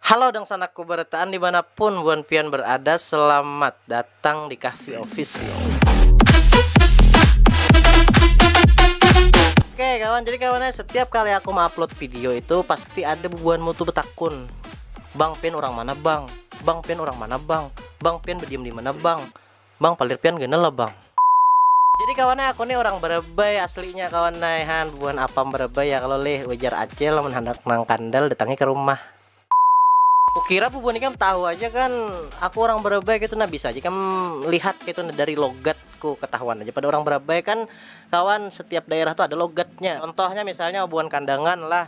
Halo dangsanakku barataan dimana pun buan pian berada selamat datang di kahfi official. Oke kawan jadi kawannya setiap kali aku mengupload video itu pasti ada bubuhan mutu betakun bang pian orang mana bang bang pian orang mana bang bang pian bediam dimana bang Bang palir pian ganal lah bang. Jadi kawan ai aku nih urang Barabai aslinya kawan ai han bubuhan apam Barabai ya kalo lih ujar acil mun handak nang kandal datangi ka rumah. Kukira bubuhan ikam tahu aja kan aku urang Barabai kaitu nah bisa aja ikam lihat kaitu nah dari logat ku katahuan aja pada urang Barabai kan kawan setiap daerah tu ada logatnya contohnya misalnya bubuhan Kandangan lah.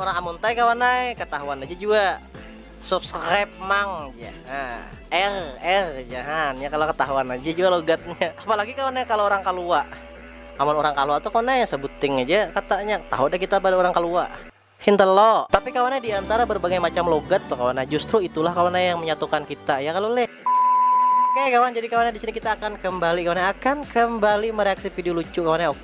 Orang amun tai kawan ai katahuan aja jua subscribe mang jar nah er er jar ha nya kalo katahuan aja jua logatnya apalagi kawan ai kalo orang kalua amun orang kalua tu kawan ai sabuting aja katanya tahu dah kita pada orang kalua hinter lo. Tapi kawan ai diantara berbagai macam logat tu kawan ai justru itulah kawan ai yang menyatukan kita ya kalo leh. Oke kawan jadi kawan ai disini kita akan kembali kawan ai akan kembali mereaksi video lucu kawan ai oke.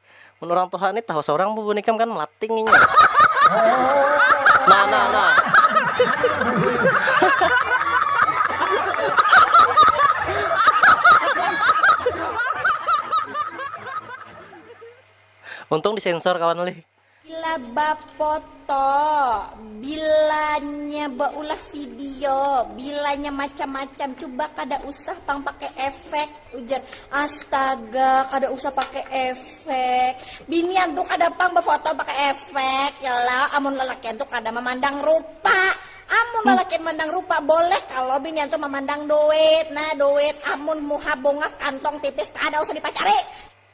Mun urang tuha ni tahu saurang bubun ikam kan melating inya. Nah nah nah. Untung disensor kawan lih. Bila bapoto, bilanya baulah video, bilanya macam-macam, cuba kada usah pang pakai efek ujar. Astaga, kada usah pakai efek. Binian tu kada pang bafoto pakai efek ya lo, amun lalakian tu kada mamandang rupa. Amun lalakian mandang rupa boleh kalo binian tu mamandang duit, nah duit amun muha bungas kantong tipis kada usah dipacari.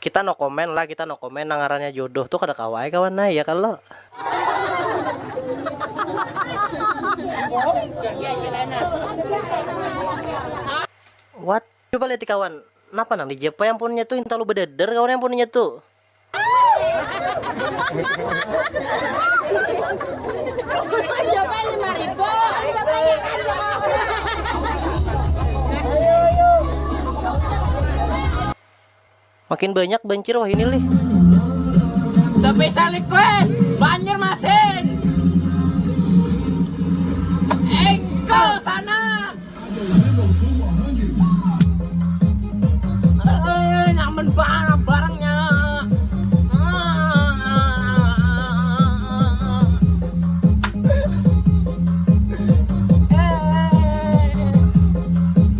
Kita no comment lah kita no comment nang ngarannya jodoh tu kada kawa ai kawan ai ya kalo. What? Coba lihat di kawan, napa nang di jepay ampunnya tu hintalu bededer kawan ai ampunnya tu. Makin banyak bancir wahini lih. Special request Banjarmasin engkol sana eh, nyaman banget barangnya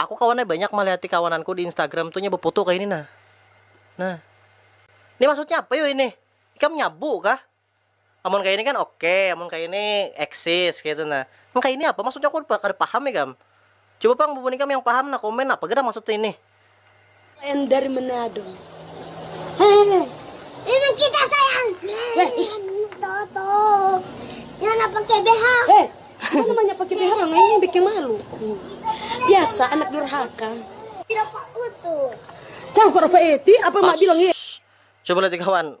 Aku kawan ai banyak malihati kawananku di instagram tu nya befoto kaya ini nah. Nah. Ini maksudnya apa yo ini? Ikam nyabu kah? Amun kaya ini kan oke, amun kaya ini eksis kaya itu nah. Nang kaya ini apa maksudnya aku kada paham ikam. Coba pang bubuhan ikam yang paham nah komen apa gerang maksudnya ini. Sayang dari Manado. Ini nang kita sayang. Weh ish. Ini mana pakai BH. Heh. Mana banyak pakai BH bang. Ini bikin malu. Biasa anak durhaka. Tidak pak utuh. Cang kok apa eti apa mak bilang Coba lihat kawan.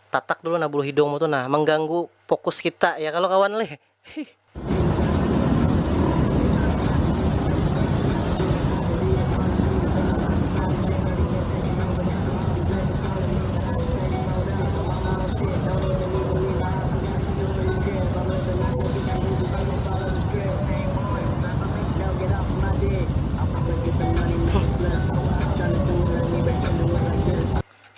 Tatak dulu nah bulu hidungmu tu nah, mengganggu fokus kita ya kalo kawan leh hih.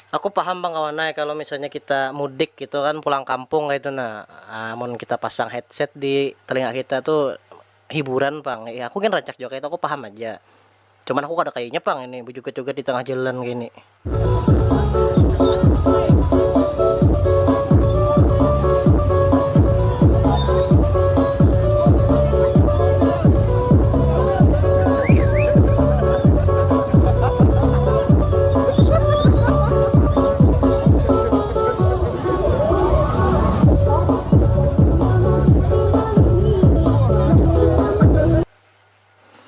Aku paham pang kawan ai kalo misalnya kita mudik gitu kan pulang kampung kaitu nah amun kita pasang headset di telinga kita tu hiburan pang ya aku gin rancak jua kaitu aku paham haja cuman aku kada kayunya pang ini bejoget-joget di tangah jalan kini.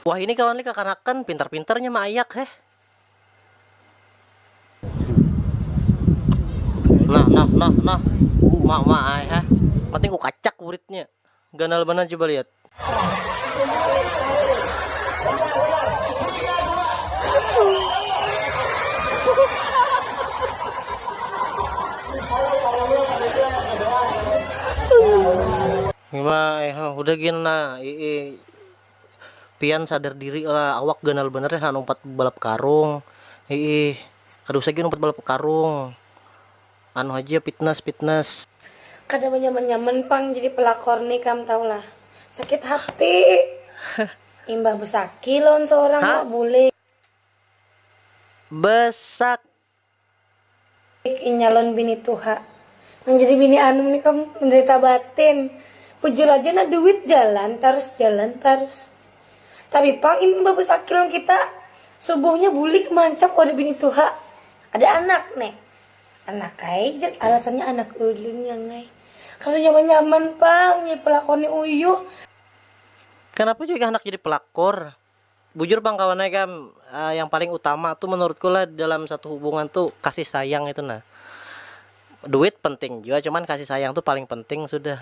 Wah ini kawan li kakanakan pintar pintarnya maayak heh. Nah nah nah nah. Uma uma ai heh. Penting ku kacak buritnya. Ganal banar coba lihat. udah gin nah ii pian sadar diri lah awak ganal bener ya umpat balap karung ii kada usah gin umpat balap karung Anu haja pitnas pitnas. Kada banyaman nyaman pang jadi pelakor ni kam tahu lah sakit hati imbah besaki lawan seorang awak bule. Besak. Inya lawan bini tuha nang jadi bini anum ni kam menderita batin bujur aja nah duit jalan tarus jalan tarus tapi pang imbah besaki lawan kita subuhnya bulik mancap wadah bini tuha ada anak ne. Anak ai jar alasannya anak ulun yang ai. Kada nyaman-nyaman pang jadi pelakor ni uyuh. Kanapa jua ikam handak jadi pelakor? Bujur pang kawan ai kam, yang paling utama tu menurutku lah dalam satu hubungan tu kasih sayang itu nah. Duit penting jua cuman kasih sayang tu paling penting sudah.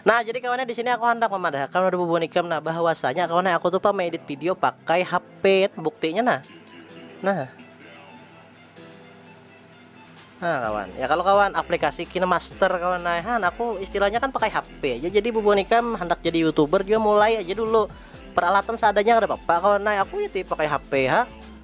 Nah, jadi kawannya di sini aku handak memadahakan pada bubun ikam nah bahwasanya kawannya aku tuh pa meedit video pakai HP buktinya nah. Nah. Nah kawan, ya kalau kawan aplikasi KineMaster kawan nah han aku istilahnya kan pakai HP aja jadi bubun ikam hendak jadi youtuber juga mulai aja dulu peralatan seadanya ada apa-apa kawan nah aku ya pakai HP ha